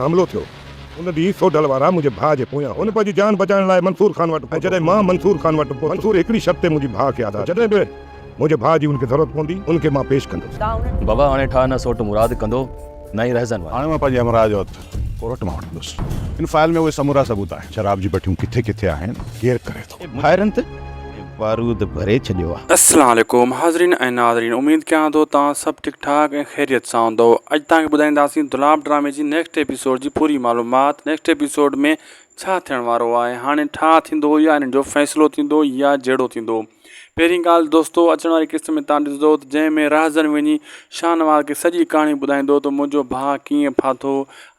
حملو ٿيو. ان ڏينهن سوڍل وارا منهنجي ڀاء جي پويان هئن. پنهنجي جان بچائڻ لاء منصور خان وٽ پهتو. جڏهن مان منصور خان وٽ پهتس، منصور هڪڙي شرط تي منهنجي ڀاء کي آزاد ڪيو. جڏهن به منهنجي ڀاء جي ان کي ضرورت پوندي، ان کي مان پيش ڪندس. بابا هاڻي ٺاهه نه سوٽ مراد ڪندو، نه ئي رهزن واري. هاڻي مان پنهنجي همراهه جو هٿ ڪورٽ مان وٺندس. هن فائل ۾ اهي سمورا ثبوت آهن. شراب جي بٺيون ڪٿي ڪٿي آهن، ڪير ڪري ٿو. ڀائرن تي بارود ڀري ڇڏيو آ. اسلام عليڪم حاضرين ۽ ناظرين اميد ڪيان ٿو توهان سڀ ٺيڪ ٺاڪ ۽ خيريت سان هوندؤ اڄ توهان کي ٻڌائينداسين دولاب ڊرامي جي نيڪسٽ ايپيسوڊ جي پوري معلومات نيڪسٽ ايپيسوڊ ۾ ڇا ٿيڻ وارو آهي هاڻي ٺاهه ٿيندو يا ان جو فيصلو ٿيندو يا جهيڙو ٿيندو پهرين ڳالهه دوستو اچڻ واري قسط ۾ توهان ڏسندؤ ته جنهن ۾ راهزن وڃي شاهنواز کي سڄي ڪهاڻي ٻڌائيندو ته منهنجو ڀاء ڪيئن ڦاٿو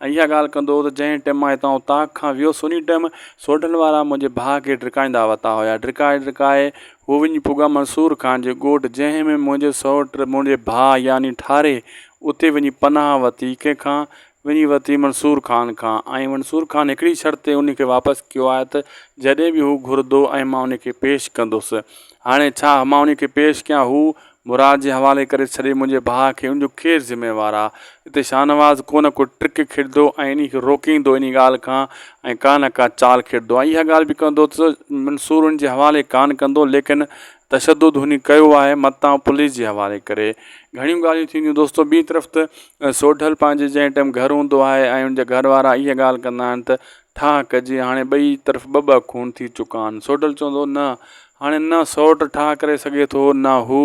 ۽ اها ڳالهه ڪندو هو ته جنهن ٽئم مان هتان اوطاق کان ويس انهي ٽئم سوڍن وارا منهنجي ڀاء کي ڊڪائيندا وتا هيا ڊڪائي ڊڪائي هو وڃي پڳا منصور خان جي ڳوٺ جنهن ۾ منهنجي سئوٽ منهنجي ڀاء يعني ٺاري اتي وڃي پناهه وتي ڪنهن کان وڃي وتي منصور خان کان ۽ منصور خان هڪڙي شرط تي انهي کي واپس ڪيو آهي ته جڏهن به هو گهردو ۽ مان انهي کي پيش ڪندس هاڻي ڇا مان انهي کي پيش ڪيان هو مراد جي حوالي ڪري ڇڏي منهنجي ڀاء کي ان جو ڪير ذميوار آ. اتي شاهنواز ڪو نه ڪو ٽرڪ کيڏندو ۽ انهي کي روڪيندو انهي ڳالهه کان ۽ ڪا نه ڪا چال کيڏندو ۽ اها ڳالهه به ڪندو ته منصور ان جي حوالي ڪانه ڪندو ليڪن تشدد هني ڪيو آهي متان پوليس جي حوالي ڪري گهڻيون ڳالهيون ٿينديون دوستو ٻي طرف ته سوڍل پنهنجي جنهن ٽيم گهر هوندو آهي ۽ ان جا گهر وارا اها ڳالهه ڪندا آهن ته ٺاهه ڪجي، هاڻي ٻئي طرف ٻه ٻه خون ٿي چڪا آهن. سوڍل چوندو هو، نه، هاڻي نه سورٽ ٺاهه ڪري سگهي ٿو، نه هو،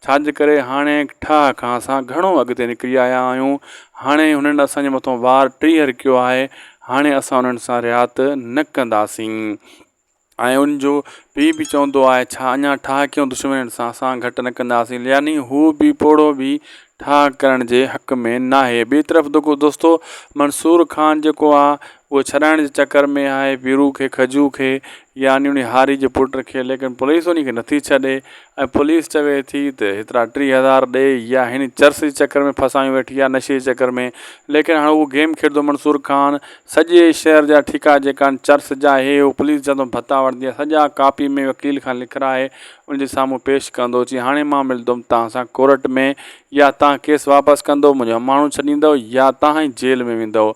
ڇاجي ڪري هاڻي ٺاهه کان اسان گهڻو اڳتي نڪري آيا آهيون. هاڻي هنن اسان جي مٿان وار ٽيهر ڪيو آهي، هاڻي اسان انهن سان رهات نه ڪنداسين. ۽ ان جو پيء به چوندو آهي، ڇا اڃا ٺاهه ڪيون دشمنين سان اسان گهٽ نه ڪنداسين. يعني هو به پوڙهو به ٺاهه ڪرڻ جي حق ۾ ناهي. ٻئي طرف دوکو دوستو منصور خان جيڪو آهي اهو ڇڏائڻ جي چڪر ۾ آهي پيرو کي، کجو کي يعني انهي هاري جي پٽ کي ليڪن پوليس انهي کي نٿي ڇڏي. ۽ پوليس چوي ٿي ته هيترا ٽي هزار ڏي يا هن چرس جي چڪر ۾ ڦاسايون ويٺي آهي نشي جي چڪر ۾ ليڪن هاڻ اهو گيم کيڏندو منصور خان سڄي شهر جا ٺيڪا جيڪا آهن چرس جا هي هو پوليس جا ته ڀتا وٺندي آهي سڄا ڪاپي ۾ وڪيل کان لکرائي ان جي سامهون پيش ڪندو چي هاڻي مان ملندم توهان سان ڪورٽ ۾ يا توهان ڪيس واپس ڪندو منهنجو هماڻو ڇڏيندو يا توهان ئي جيل ۾ ويندو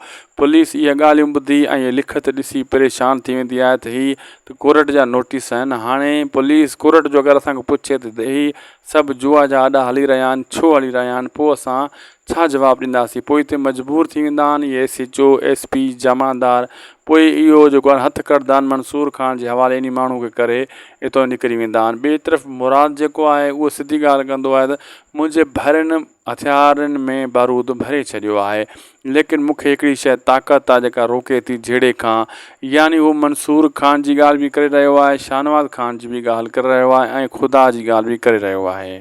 پوليس اهي ڳالهيون ٻڌي ۽ لکت ڏسي پريشان ٿي ويندي آهي ته هي ته ڪورٽ جا نوٽيس آهن هاڻي پوليس ڪورٽ جو اگر اسان کان پڇي ته هي سڀ جوا جا اڏا هلي رهيا آهن ڇو هلي رهيا آهن پوء اسان ڇا جواب ڏينداسين پوء هتي مجبور ٿي ويندا آهن اهي S H O S P جمعدار پوء اهو جيڪو آهن هٿ ڪڙدا آهن منصور خان جي حوالي انهي ماڻهو کي ڪري اتو نڪري ويندا آهن ٻي طرف مراد جيڪو آهي اهو سڌي ڳالهه ڪندو آهي ته منهنجي ڀائرن هٿيارن ۾ بارود ڀري ڇڏيو آهي ليڪن مون کي هڪڙي شايد طاقت آهي جيڪا روڪي ٿي جهيڙي کان يعني هو منصور خان جي ڳالهه به ڪري رهيو آهي شاهنواز خان جي به ڳالهه ڪري رهيو آهي ۽ خدا جي ڳالهه به ڪري رهيو آهي.